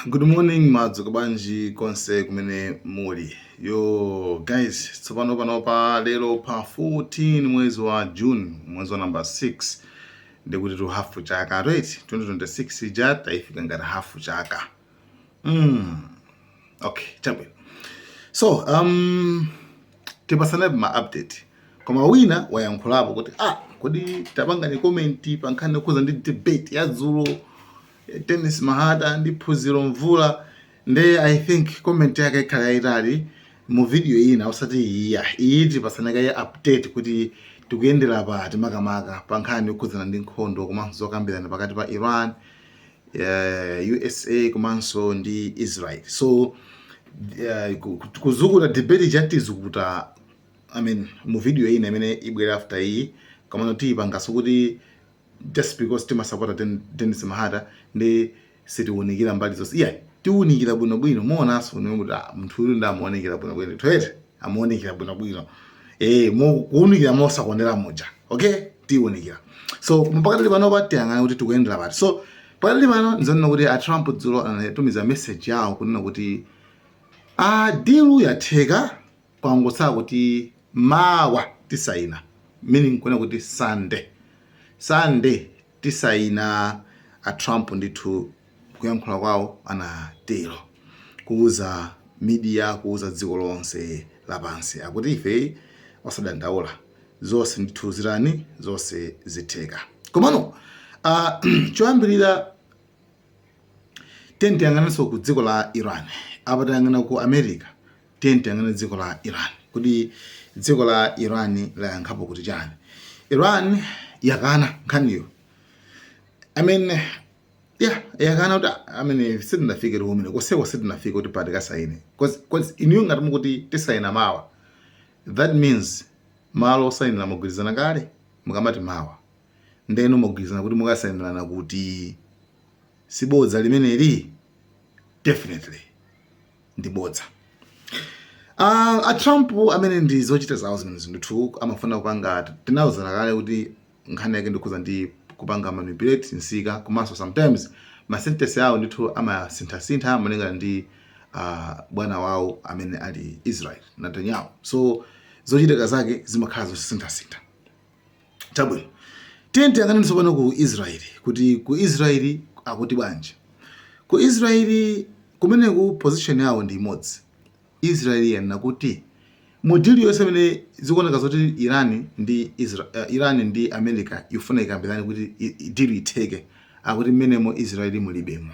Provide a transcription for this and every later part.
Good morning mwadzuka bwanji konse kumene muli yo guys, tsopano pano pa lero pa 14 mwezi wa June mwezi wa number 6 ndikuti tu hafu chaka right 2026 ija taifika ngati hafu chaka mm. okay chabwino so um, tipasanapo ma update koma wina wayankhulapo kuti ah kodi tapangani comment pa nkhani yokhuza ndi debate ya dzulo Dennis Mahata ndi phunziro mvula nde i think comment yake ikhala yayitali mu video ina osati iya iyi tipasana kaye update kuti tikuyendera pati makamaka pa nkhani yokhudzana ndi nkhondo komanso zokambirana pakati pa iran uh, usa komanso ndi israel so uh, ku- ku- kuzukuta debate ija tizukuta i mean mu video ina imene ibwera after iyi komano tiyipangaso kuti just because timasapota Den- Dennis Mahata nde sitiwunikira mbali zonse iya tiwunikira bwinobwino muonanso inu kuti ah, munthu uyu ndamuunikira bwinobwino toyete amuunikira bwinobwino eh mu- kuwunikira mosakondera muja okay tiunikira so pakadali pano apa tiyang'ana kuti tikuyendera pati so pakadali pano ndizanena kuti a trump dzulo anatumiza message yawo kunena kuti a deal yatheka kwangotsala kuti mawa tisaina meaning kunena kuti sunday sunday Tisaina a Trump ndithu kuyankhula kwawo anatero. Kuuza media kuuza dziko lonse lapansi akuti ife osadandaula zonse ndithu zitani zonse zitheka. Komano aah choyambirira. tiye tiyang'anenso ku dziko la iran apa tayang'ana ku america tiye tiyang'ane dziko la iran kuti dziko la iran layankhapo kuti chani iran yakana nkhaniyo i mean yeah yakana kuti i mean sitinafike kumeneko koseko sitinafike kuti apa tikasayine because inuyo ngati mukuti tisayina mawa that means malo osayinira mwagwirizana kale mukamati mawa nde inu mwagwirizana kuti mukasainirana kuti? Si bodza limeneli? Definitely ndi bodza. Uh, a Trump amene ndi zochita zawo zimenezo ndithu amafuna kupanga tinauzana kale kuti nkhani yake ndi yokhuza ndi kupanga manipulate nsika komanso sometimes ma sentence awo ndithu amasinthasintha malingana ndi uh, bwana wawo amene ali Israel Netanyahu so zochitika zake zimakhala zosinthasintha Chabwino, tiyeni tiyang'anenso pano ku Israeli kuti ku Israeli akuti bwanji. Ku Israeli kumeneku position yawo ndi imodzi. Israeli yanena kuti mu deal yonse imene zikuoneka zoti Iran ndi Israel, uh, Iran ndi America ikufuna ikambirane kuti i- i- deal itheke akuti mmenemo Israeli mulibemo.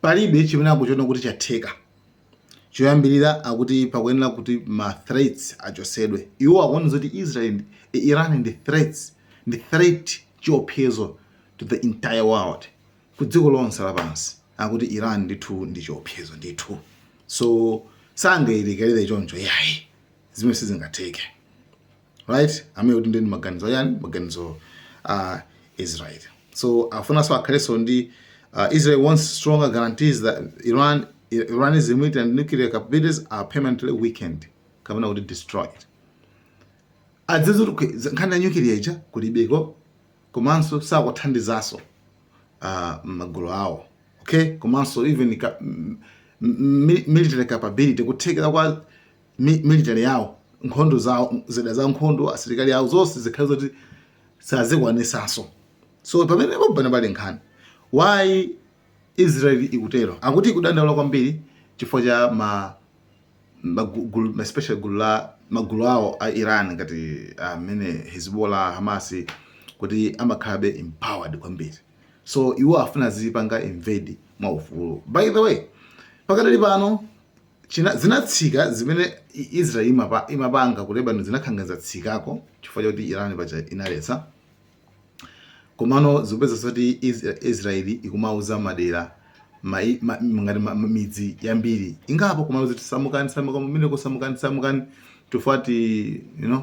Palibe chimene akuchiona kuti chatheka. Choyambirira akuti pakuyenera kuti ma threats achotsedwe. Iwo akuona zoti Israel Iran ndi threats, ndi threat, chiopsezo to the entire world, ku dziko lonse lapansi. Akuti Iran ndithu ndi chiopsezo ndithu. So sangailekerere choncho iyayi. Zimene sizingatheke. right amene akuti ndiye maganizo a ndani maganizo a Israel so afunanso akhalenso ndi uh, Israel wants stronger guarantees that Iran Iran's military and nuclear capabilities are permanently weakened kapena kuti destroyed as in zoti nkhani ya nuclear ija kulibeko komanso sakuthandizaso uh, magulu awo okay komanso even ka, military capability kuthekera kwa mi- military yawo nkhondo zawo zida za nkhondo asilikali awo zonse zikhale zoti sazikwanisaso so pamene paja pali nkhani why israel ikutero akuti ikudandaula kwambiri chifukwa cha ma magulu ma especially gulu la magulu awo a Iran ngati amene Hezbollah Hamas kuti amakhalabe empowered kwambiri so iwo afuna zipanga invade mwa ufulu by the way pakadali pano china zinatsika zimene Israel imapa, imapanga ku Lebanon zinakhala ngati zatsikako chifukwa choti Iran paja inaletsa komano zikupeza zoti Israel ikumauza madera mai, ma, ngati ma, midzi yambiri ingapo kumauza kuti samukani samukani mumeneko samukani samukani chifukwa choti you know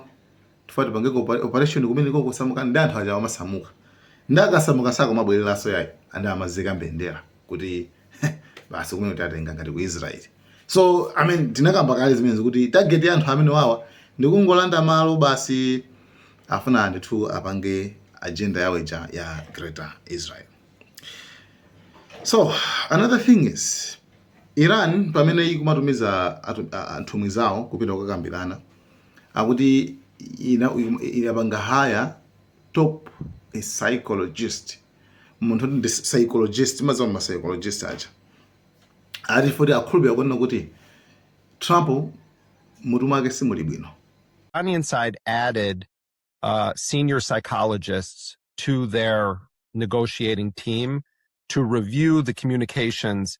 tifuna tipangeko opa- operation kumeneko mukasamuka ndi anthu aja amasamuka ndi akasamuka sakumabwereranso yayi andi amazika mbendera kuti basi kumeneku tikutenga ngati ku israel so i mean tinakamba kale zimenezi kuti target ya anthu amenewawa ndikungolanda malo basi afuna ndithu apange agenda yawo ija ya greater israel so another thing is iran pamene ikumatumiza atu- a- a- nthumwi zawo kupita kukakambirana akuti ina- inapanga hire top a psychologist munthu oti ndi psychologist madzima psychologist aja akuti chifukwa choti akhulupira kunena kuti trump mutu mwake simuli bwino Iranian side added uh, senior psychologists to their negotiating team to review the communications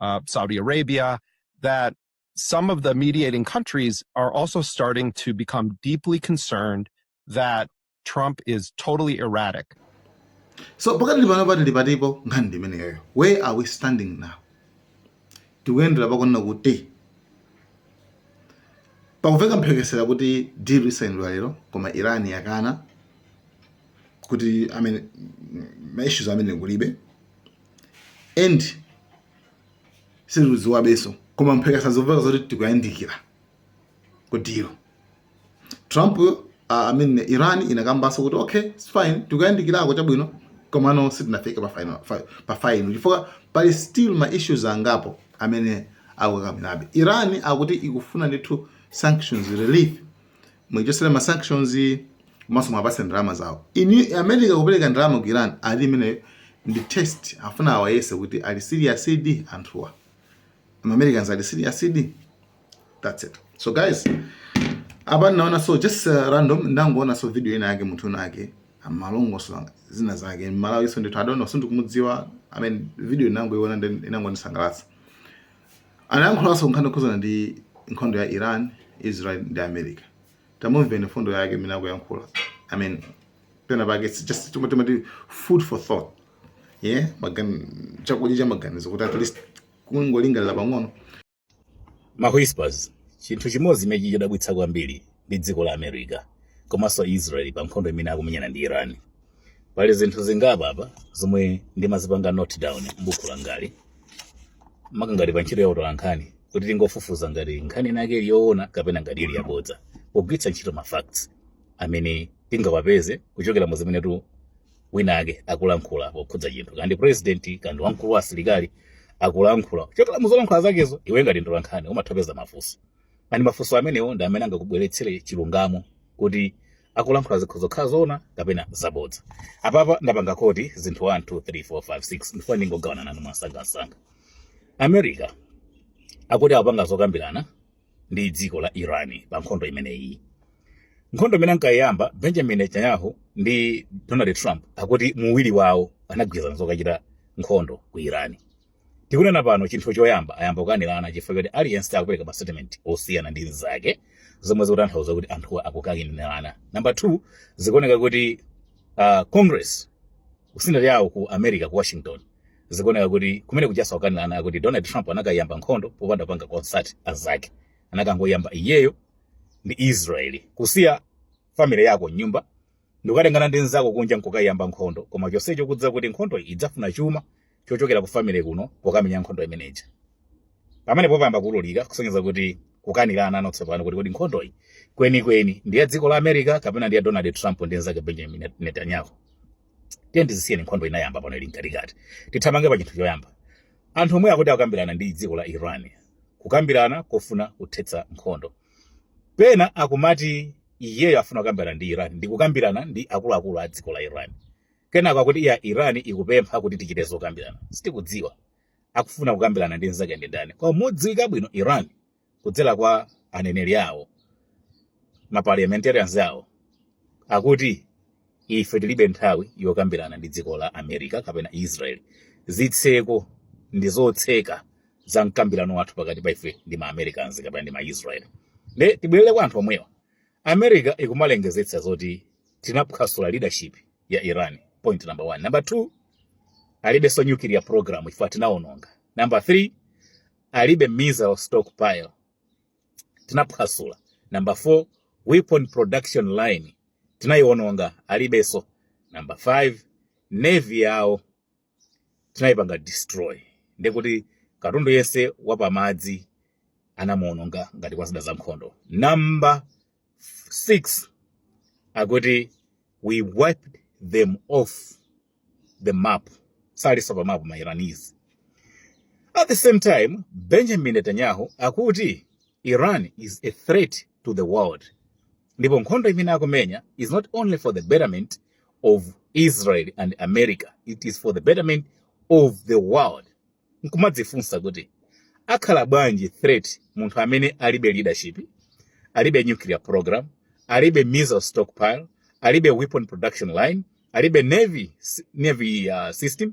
uh, Saudi Arabia, that some of the mediating countries are also starting to become deeply concerned that Trump is totally erratic. So, where are we standing now? tikuyendera pakunena kuti pakumveka mphekesera kuti deal isayinidwa lero koma iran yakana kuti amene maissues amene kulibe and sitikudziwabenso koma mphekesera zomveka zoti tikuyandikira ku deal trump uh, I mean, iran inakambanso kuti okay it's fine tikuyandikirako chabwino komano sitinafike pa final chifukwa pali still ma issues angapo amene akukakamirabe iran akuti ikufuna ndithu sanctions relief muichotsere ma sanctions komanso muwapatse ndalama zawo america kupereka ndalama ku iran ali imeneyo ndi test afuna awayese kuti ali seriousdi anthuwa ma americans ali seriousdi that's it so guys apa ndinaona so just uh, random ndangoona so video ina yake munthu winawake amalongosola zina zake mmalawi so ndithu I don't know sindikumudziwa i mean video ndinangoiona then inangondisangalatsa Anayankhulanso nkhani yokhudzana ndi nkhondo ya Iran, Israel ndi America. Tamumveni mfundo yake imene akuyankhula. I mean, pena pake it's just chomwe timati food for thought. Yeah, chakudya cha maganizo kuti at least kungolingalira pang'ono. Ma whispers chinthu chimodzi chimene chikudabwitsa kwambiri ndi dziko la america komanso israel pa nkhondo imene akumenyana ndi iran pali zinthu zingapo apa zomwe ndimazipanga note down m'buku langali maka ngati pa ntchito ya utolankhani kuti tikafufuza ngati nkhani inake ili yoona kapena ngati ili yabodza pogwiritsa ntchito ma facts amene tingawapeze kuchokera mu zimene munthu wina ake akulankhula pokhudza chinthu kaya ndi president kaya ndi wamkulu wa asilikali akulankhula kuchokera mu zolankhula zakezo iwe ngati mtolankhani umatha kupeza mafunso and mafunso amenewo ndi amene angakubweretsere chilungamo kuti akulankhula zikhoza kukhala zoona kapena zabodza apapa ndapanga quote zinthu 1 2 3 4 5 6 ndifuna ndingogawana nanu mwansangansanga america akuti akupanga zokambirana ndi dziko la iran pa nkhondo imeneyi nkhondo imene ankayiyamba benjamin netanyahu ndi donald trump akuti muwiri wawo anagwirizana zokachita nkhondo ku iran tikunena pano chinthu choyamba ayamba kukanirana chifukwa choti aliyense akupereka ma statement osiyana ndi mzake zomwe zikutanthauza kuti anthuwa akukanirana number two zikuoneka kuti uh, congress ku senate yawo ku america ku washington zikuoneka kuti kumene kukuchitikanso kukanirana kuti donald trump anakayamba nkhondo popanda kupanga consult azake anakangoyamba iyeyo ndi israeli kusiya family yako m'nyumba ndikukatengana ndi nzako kunja nkukayiyamba nkhondo koma chonsecho kudza kuti nkhondo iyi idzafuna chuma chochokera ku family kuno pokamenya nkhondo imeneja pamene popayamba kuwululika kusonyeza kuti akukanirana ano tsopano kuti kodi nkhondo iyi kwenikweni ndi ya dziko la america kapena ndi ya donald trump ndi nzake benjamin netanyahu tiyeni tizisiye nkhondo inayamba pano ili mkatikati tithamange pa chinthu choyamba anthu omwe akuti akukambirana ndi dziko la iran kukambirana kofuna kuthetsa nkhondo pena akumati iyeyo afuna kukambirana ndi iran ndi kukambirana ndi akuluakulu a dziko la iran kenako akuti iyayi iran ikupempha kuti tichite zokambirana sitikudziwa akufuna kukambirana ndi nzake ndi ndani koma modziwika bwino iran kudzera kwa aneneri awo ma parliamentarians awo akuti ife tilibe nthawi yokambirana ndi dziko la america kapena israel zitseko ndi zotseka za mikambirano yathu pakati pa ife ndi ma Americans kapena ndi ma Israel. Nde tibwerere kwa anthu omwewa. America ikumalengezetsa zoti tinaphwasula leadership ya Iran. Point number one. Number two, alibenso nuclear program chifukwa tinaononga. Number three, alibe missile stockpile tinaphwasula. Number four, weapon production line tinaiononga alibenso. Number five, navy yawo tinayipanga destroy ndekuti katundu yense wapamadzi anamuononga ngati kwa zida za nkhondo number 6 akuti we wiped them off the map salinso pa map ma iranese at the same time benjamin netanyahu akuti iran is a threat to the world ndipo nkhondo imene akumenya is not only for the betterment of israel and america it is for the betterment of the world nkumadzifunsa kuti akhala bwanji threat munthu amene alibe leadership alibe nuclear program alibe missile stockpile alibe weapon production line alibe navy system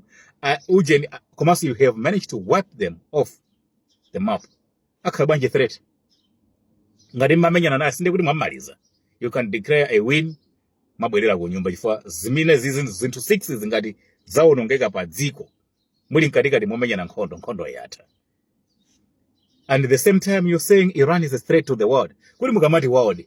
ujeni komanso you have managed to wipe them off the map akhala bwanji threat ngati mmamenyana naye sinde kuti mwamaliza you can declare a win mwabwerera ku nyumba chifukwa zimenezizi zinthu 6 zi ngati zawonongeka pa dziko muli mkatikati momenyana nkhondo nkhondo yatha at the same time you're saying iran is a threat to the world kuti mukamati world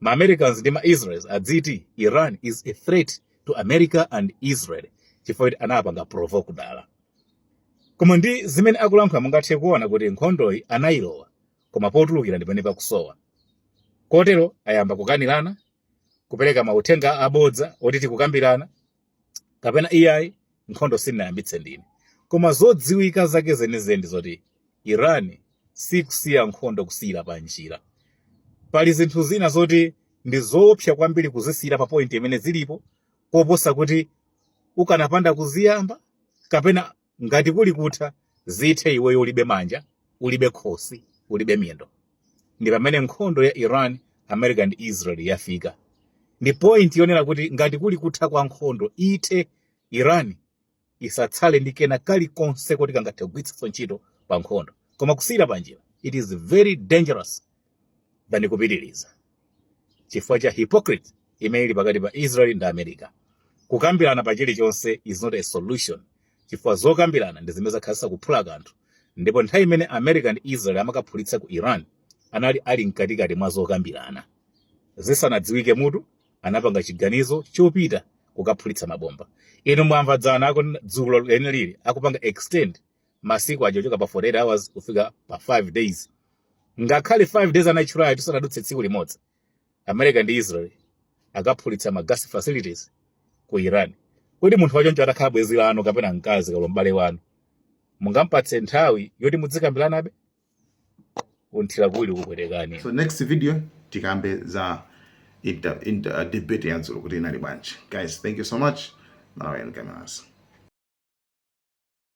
ma americans ndi ma israels adziti iran is a threat to america and israel chifukwa kuti anawapanga provoke dala koma ndi zimene akulankhula mungathe kuona kuti nkhondoyi anayilowa koma potulukira ndi pamene pakusowa kotero ayamba kukanirana kupereka mauthenga abodza oti tikukambirana kapena iyayi nkhondo sindinayambitse ndine koma zodziwika zake zenizeni ndi zoti iran sikusiya nkhondo kusiyira pa njira pali zinthu zina zoti ndi zoopsa kwambiri kuzisiyira pa point imene zilipo koposa kuti ukanapanda kuziyamba kapena ngati kuli kutha zithe iweyo ulibe manja ulibe khosi ulibe miyendo ndi pamene nkhondo ya iran america and israel yafika ndi point yonena kuti ngati kuli kutha kwa nkhondo ithe iran isatsale ndi kena kalikonse koti kangathe kugwiritsanso ntchito pa nkhondo koma kusiyira panjira it is very dangerous than kupitiriza chifukwa cha hypocrite imene ili pakati pa Israel ndi America. Kukambirana pa chilichonse is not a solution chifukwa zokambirana ndi zimene zakhala zisa kuphula kanthu ndipo nthawi imene America ndi Israel amakaphulitsa ku Iran anali ali mkatikati mwa zokambirana zisanadziwike mutu anapanga chiganizo chopita kukaphulitsa mabomba inu mwamva dzana lako dzulo leneli akupanga extend masiku aja ochoka pa 48 hours kufika pa 5 days ngakhale 5 days anatchulayo tisanadutse tsiku limodzi america ndi israel akaphulitsa ma gas facilities ku iran kodi munthu wachoncho atakhala bwenzi lanu kapena mkazi kapena m'bale wanu mungampatse nthawi yoti mudzikambiranabe kunthira kuwiri kupwetekani so next video tikambe za debate ya dzulo kuti inali bwanji guys thank you so much malawi and cameras